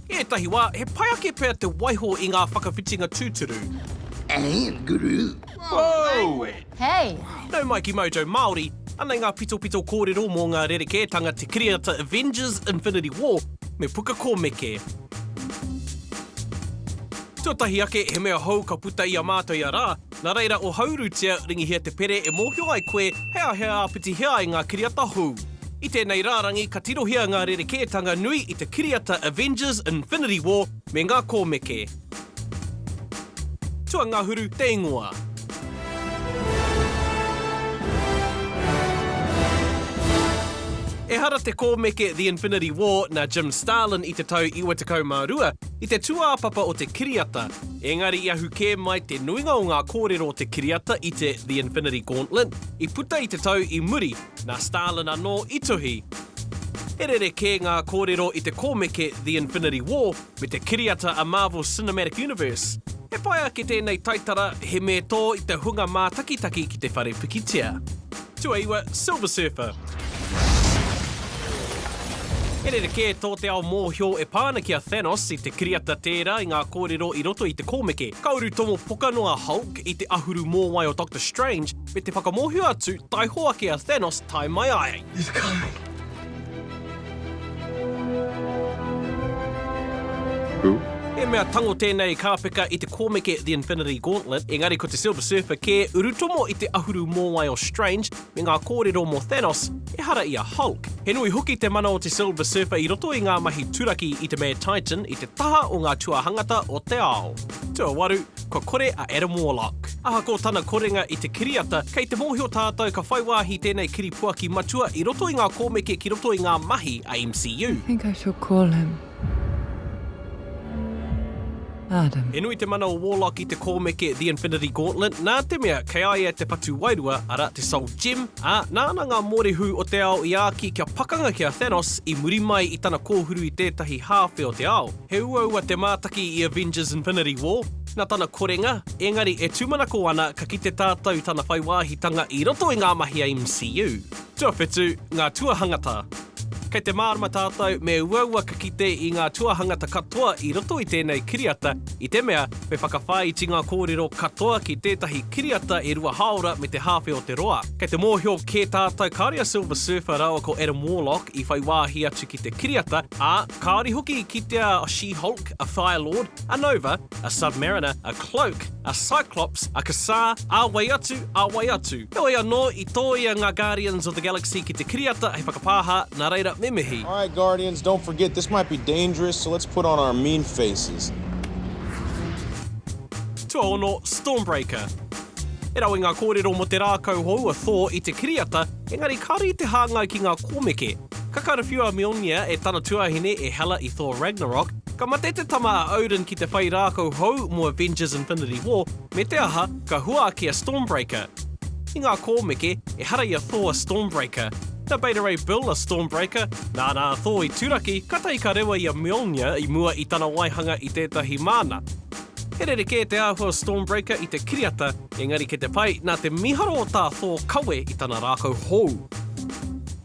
I ētahi wā, he pai ake pea te waiho i ngā whakawhitinga tūturu. And guru. Whoa! Hey! Nau mai ki Mojo Māori, anei ngā pitopito kōrero mō ngā rerekētanga Te Kiriata Avengers Infinity War me Puka Kōmeke. Tuatahi ake, he mea hou ka puta i a mātou ia rā, Nā reira, ohaurutia, ringihia te pere e mōhio ai koe he aha he āpiti he ai ngā kiriata hou. I tēnei rārangi ka tirohia ngā rerekētanga nui i te kiriata Avengers, Infinity War me ngā kōmeke. Tuangahuru te ingoa. Ehara te kōmeke The Infinity War nā Jim Starlin i te tau 92, i te tūāpapa o te kiriata, ēngari i ahu kē mai te nuinga o ngā kōrero o te kiriata i te The Infinity Gauntlet i puta i te tau i muri, nā Starlin anō i tuhi. He rerekē ngā kōrero i te kōmeke The Infinity War me te kiriata a Marvel Cinematic Universe. He pai ake tēnei taitara, he me tō i te hunga mātakitaki ki te whare pikitia. Tuaiwa Silver Surfer. He rerekē tō te ao mōhio e pā ana ki a Thanos i te kiriata tērā i ngā kōrero i roto i te kōmeke. Ka uru tomo poka noa a Hulk i te ahuru mōwai o Doctor Strange me te whakamōhio atu taiho ake a Thanos tae mai ai. He's coming. Who? He mea tango tēnei kāpeka i te kōmeke The Infinity Gauntlet, engari ko te Silver Surfer kē urutomo i te ahuru mōwai o Strange me ngā kōrero mō Thanos, ehara i a Hulk. He nui hoki te mana o te Silver Surfer i roto i ngā mahi turaki i te Mad Titan i te taha o ngā tuahangata o te ao. Tuawaru, kua kore a Adam Warlock. Ahakoa tana korenga i te kiriata, kei te mōhio tātou ka whai wāhi tēnei kiripuaki matua i roto i ngā kōmeke ki roto i ngā mahi a MCU. I think I shall call him Adam. He nui te mana o Warlock i te kōmeke The Infinity Gauntlet, nā te mea kei a ia te patu wairua, arā, te Soul Gem, ā, nāna ngā mōrehu o te ao i āki kia pakanga ki a Thanos i muri mai i tana kōhuru i tētahi hāwhe o te ao. He uaua te mātaki i Avengers Infinity War na tana korenga, engari e tūmanako ana ka kite tātou tana whai wāhitanga i roto i ngā mahi a MCU. Tuawhitu, ngā tuahangata. Kei te mārama tātou me uaua ka kite i ngā tuahangata katoa i roto i tēnei kiriata i te mea me whakawhāiti ngā kōrero katoa ki tētahi kiriata e rua hāora me te hāwhe o te roa. Kei te mōhio kē tātou kāore a Silver Surfer rāua ko Adam Warlock i whai wāhi atu ki te kiriata Ā, kāore hoki i kitea a She-Hulk, a Fire Lord, a Nova, a Submariner, a Cloak, a Cyclops, a Ka-Zar, ā wai atu, ā wai atu. Heoi anō, i tōia ngā Guardians of the Galaxy ki te kiriata hei whakapāha, nā reira, me mihi. Alright Guardians, don't forget this might be dangerous, so let's put on our mean faces. Tuaono, Stormbreaker. He rawe ngā kōrero mō te rākau hou a Thor i te kiriata, engari kāore i te hāngai ki ngā kōmeke. Ka karawhiu a Mjolnir e tana tuāhine e Hela i Thor Ragnarok, ka mate te tama a Odin ki te whai rākau hou mō Avengers Infinity War, me te aha, ka hua ake a Stormbreaker. I ngā kōmeke, ehara i a Thor a Stormbreaker. Na Beta Ray Bill a Stormbreaker, nāna a Thor i turaki, kātahi ka rewa i a Mjolnir i mua i tana waihanga i tētahi māna. He rerekē te āhua o Stormbreaker i te kiriata, engari kei te pai, nā te mīharo o tā Thor kawe i tana rākau hou.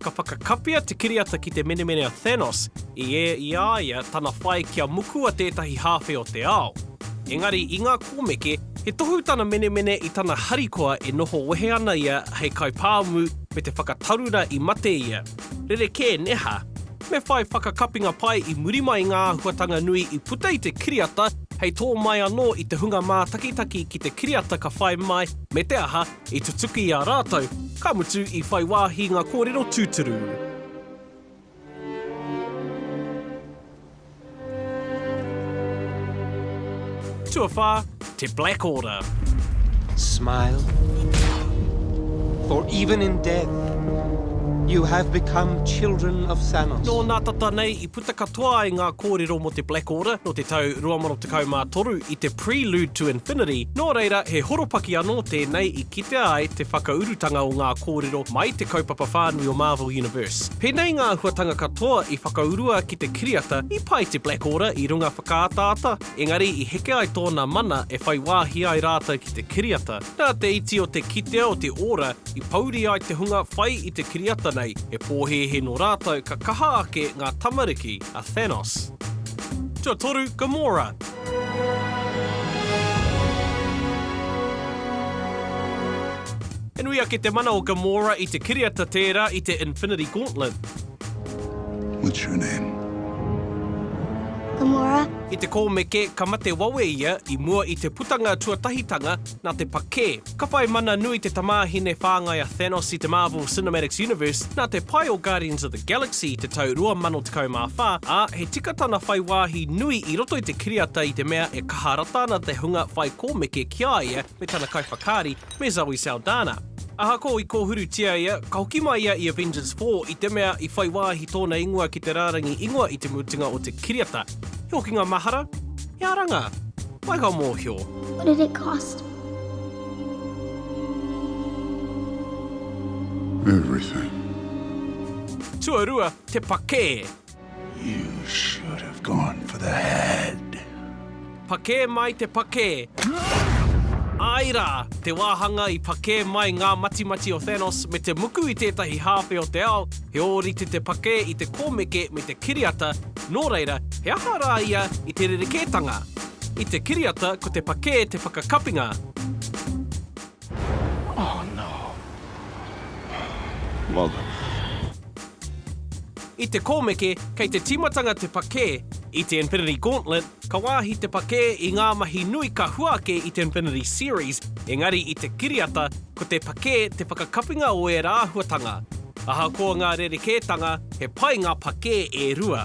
Ka whakakapia te kiriata ki te menemene a Thanos i ē i a ia tana whai kia mukua tētahi hāwhe o te ao. Engari i ngā kōmeke, he tohu tana menemene i tana harikoa e noho wehe ana ia hei kaipāmu me te whakatarura i mate ia. Rerekē, neha. Me whai whakakapinga pai i muri mai ngā āhuatanga nui i puta i te kiriata hei tō mai anō i te hunga mātakitaki ki te kiriata ka whai mai me te aha I tutuki i a rātou, ka mutu i whai wāhi ngā kōrero tūturu. Tuawhā, Te Black Order. Smile. For even in death, you have become children of Thanos. Nō nā tata nei i Puta katoa ai ngā kōrero mō te Black Order nō te tau 2013 i te Prelude to Infinity, nō reira he horopaki anō tēnei i kitea ai te whakaurutanga o ngā kōrero mai te kaupapa whānui o Marvel Universe. Pēnei ngā āhuatanga katoa i whakaurua ki te kiriata i pai te Black Order i runga whakaataata, engari i heke ai tōna mana e whai wāhi ai rātou ki te kiriata. Nā te iti o te kitea o te ora i pouri ai te hunga whai i te kiriata nei, he pōhēhē nō rātou ka kaha ake ngā tamariki a Thanos. Tuatoru, Gamora. He nui ake te mana o Gamora i te kiriata tērā i te Infinity Gauntlet. What's your name? Gamora. I te kōmeke, ka mate wawe ia i mua i te putanga tuatahitanga nā te pakē. Ka whai mana nui te tamāhine whāngai a Thanos i te Marvel Cinematics Universe nā te pae o Guardians of the Galaxy i te tau 2014, ā, he tika tana whai wāhi nui i roto i te kiriata i te mea e kaha rata ana te hunga whai kōmeke ki a ia me tana kaiwhakaari, me Zoe Saldana. Ahakoa i kōhurutia ia, ka hoki mai ia i Avengers Four i te mea i whai wāhi tōna ingoa ki te rārangi ingoa i te mutunga o te kiriata. He hokinga mahara, he aranga, waiho mōhio. What did it cost? Everything. Tuarua, te pakē. You should have gone for the head. Pakē mai te pakē! Āe rā, te wāhanga i pakē mai ngā matimati o Thanos me te muku i tētahi hāwhe o te ao, he ōrite te pakē i te kōmeke me te kiriata, nō reira, he aha rā ia i te rerekētanga? I te kiriata ko te pakē te whakakapinga. Oh no. I te kōmeke, kei te tīmatanga te pakē. I te Infinity Gauntlet, ka wāhi te pakē i ngā mahi nui ka hua ake i te Infinity Series, engari i te kiriata, ko te pakē te whakakapinga o ērā āhuatanga. Ahakoa ngā rerekētanga, he pai ngā pakē e rua.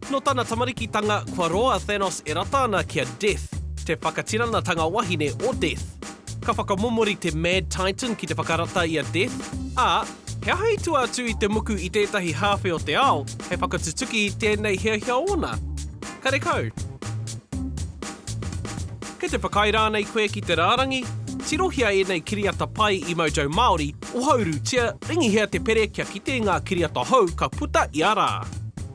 Nō tana tamarikitanga, kua roa a Thanos e rata ana ki a Death, te whakatiranatanga wahine o Death. Ka whakamomori te Mad Titan ki te whakarata i a Death, ā, he aha i tua atu i te muku i tētahi hāwhe o te ao hei whakatutuki i tēnei hiahia ōna? Karekau. Kei te whakaae rānei koe ki te rārangi? Tirohia ēnei kiriata pai i Mojo Māori, ohaurūtia, ringihia te pere kia kite ngā kiriata hou ka puta ia rā.